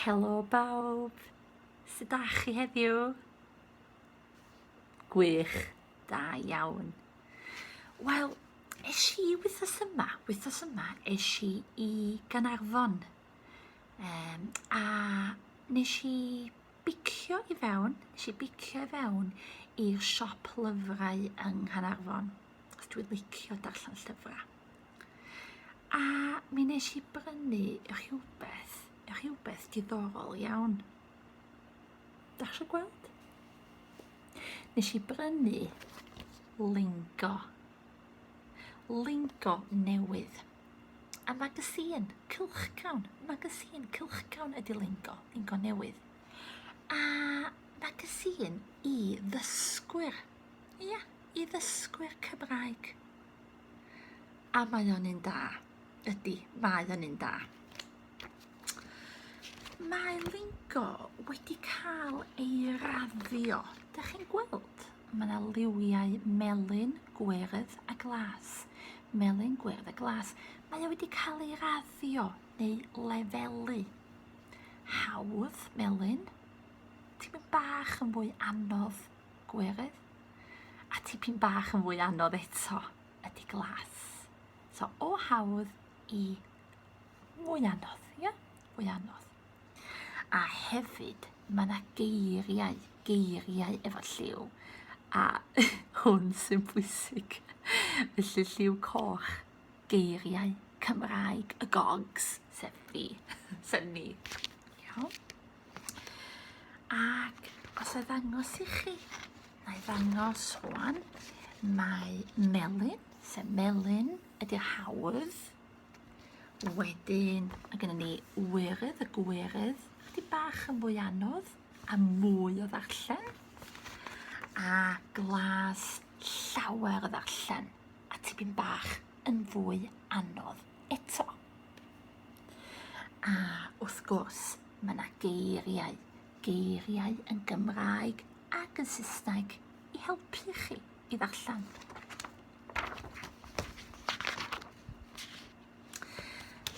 Helo bawb! Sut da chi heddiw? Gwych, da iawn. Wel, es i wythos yma, wythos yma es i i Ganarfon um, a nes i bicio i fewn, nes i bicio i fewn i'r siop lyfrau yng Nghanarfon, os dwi'n licio darllen llyfrau. A mi nes i brynu rhywbeth, rhywbeth diddorol iawn. Da chi gweld? Nes i brynu lingo. Lingo newydd. A magazine, cylchcawn, magazine, cylchcawn ydi lingo, lingo newydd. A magazine i ddysgwyr. Ia, i ddysgwyr Cymraeg. A mae o'n un da. Ydy, mae o'n un da. Mae lingo wedi cael ei raddio. Dych chi'n gweld? Mae yna liwiau melyn, gwyrdd a glas. Melyn, gwyrdd a glas. Mae o wedi cael ei raddio neu lefelu. Hawdd, melyn. Ti'n mynd bach yn fwy anodd, gwyrdd. A tipyn bach yn fwy anodd eto ydy glas. So o hawdd i mwy anodd, ie? Yeah? Mwy anodd. A hefyd, mae yna geiriau, geiriau efo lliw, a hwn sy'n bwysig. Felly lliw coch, geiriau Cymraeg y gogs, sef fi, sef ni. Iawn? Ac os a ddangos i chi, na i ddangos rwan, mae melyn, sef melyn ydy'r hawdd. Wedyn, mae gennym ni wyrydd, y gwyrydd, chdi bach yn fwy anodd a mwy o ddarllen. A glas llawer o ddarllen a tipyn bach yn fwy anodd eto. A wrth gwrs, mae yna geiriau, geiriau yn Gymraeg ac yn Saesneg i helpu chi i ddarllen.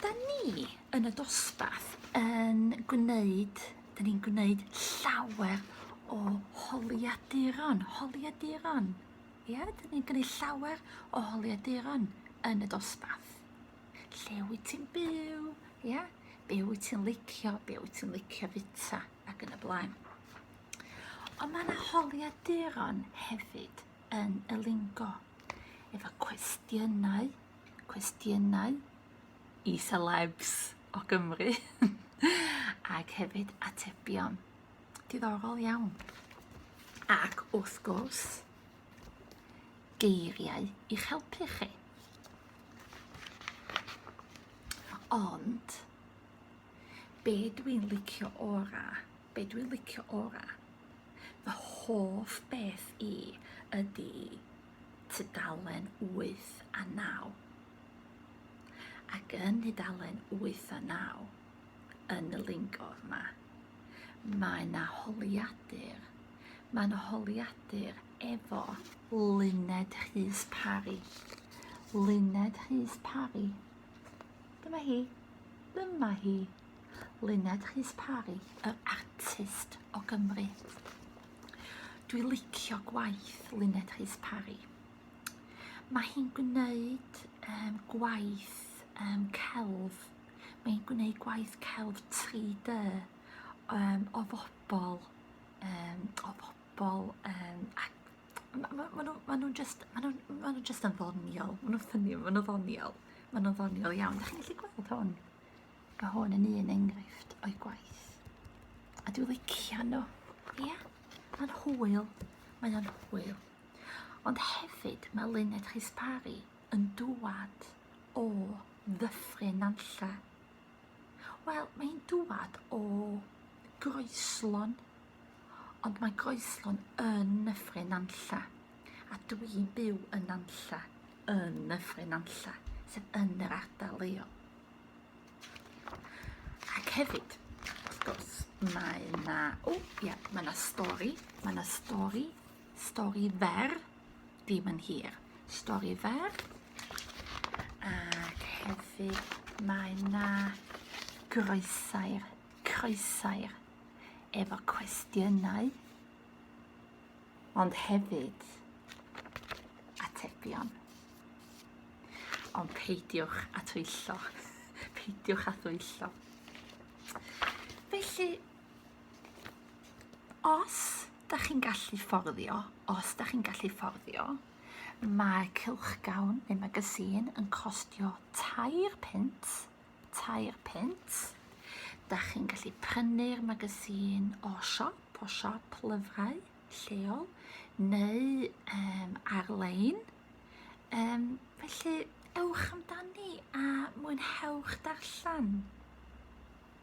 Da ni yn y dosbarth yn gwneud, da ni'n gwneud llawer o holiaduron, holiaduron. Ie, da ni'n gwneud llawer o holiaduron yn y dosbarth. Lle wyt ti'n byw? Ia? Yeah? Be wyt ti'n licio? Be wyt ti'n licio fita? Ac yn y blaen. Ond mae yna holiaduron hefyd yn y lingo efo cwestiynau, cwestiynau i celebs o Gymru ac hefyd atebion. Diddorol iawn. Ac wrth gwrs, geiriau i'ch helpu chi. Ond, be dwi'n licio ora, be dwi'n licio ora, fy hoff beth i ydy tudalen 8 a 9. Ac yn tudalen 8 a 9, yn y lingor yma, Mae 'na holiadur. Mae 'na holiadur efo Luned Rhys Parry. Luned Rhys Parry. Dyma hi. Dyma hi. Luned Rhys Parry, yr artist o Gymru. Dwi licio gwaith Luned Rhys Parry. Mae hi'n gwneud um, gwaith um, celf Mae'n gwneud gwaith celf 3D um, o fobl, um, o fobl, um, maen nhw'n ma, ma, ma just, ma nhw, ma nhw just yn ddoniol, maen nhw'n ffynnu, maen nhw'n ddoniol, maen nhw'n ddoniol iawn. Da chi'n gallu gweld hwn? Mae hwn yn un enghraifft o'i gwaith. A dwi'n licio nhw. Ie? Yeah? Mae'n hwyl. Mae'n hwyl. Ond hefyd, mae Lynette Chispari yn dŵad o Ddyffryn Nantlle. Wel, mae hi'n dŵad o Groeslon, ond mae Groeslon yn Nyffryn Nantlle, a dwi'n byw yn Nantlle, yn Nyffryn Nantlle, sef yn yr ardal leol. Ac hefyd, wrth gwrs, mae yna, o, ia, mae yna stori, mae yna stori, stori fer, ddim yn hir. Stori fer. Ac hefyd mae na groesau'r croesau'r efo cwestiynau ond hefyd atebion. Ond peidiwch a twyllo. peidiwch a thwyllo. Felly, os da chi'n gallu fforddio, os da chi'n gallu fforddio, mae cylchgawn neu magazine yn costio tair pint, tair pint. Da chi'n gallu prynu'r magazine o siop, o siop lyfrau lleol, neu um, ar-lein. Um, felly, ewch amdani a mwynhewch darllen.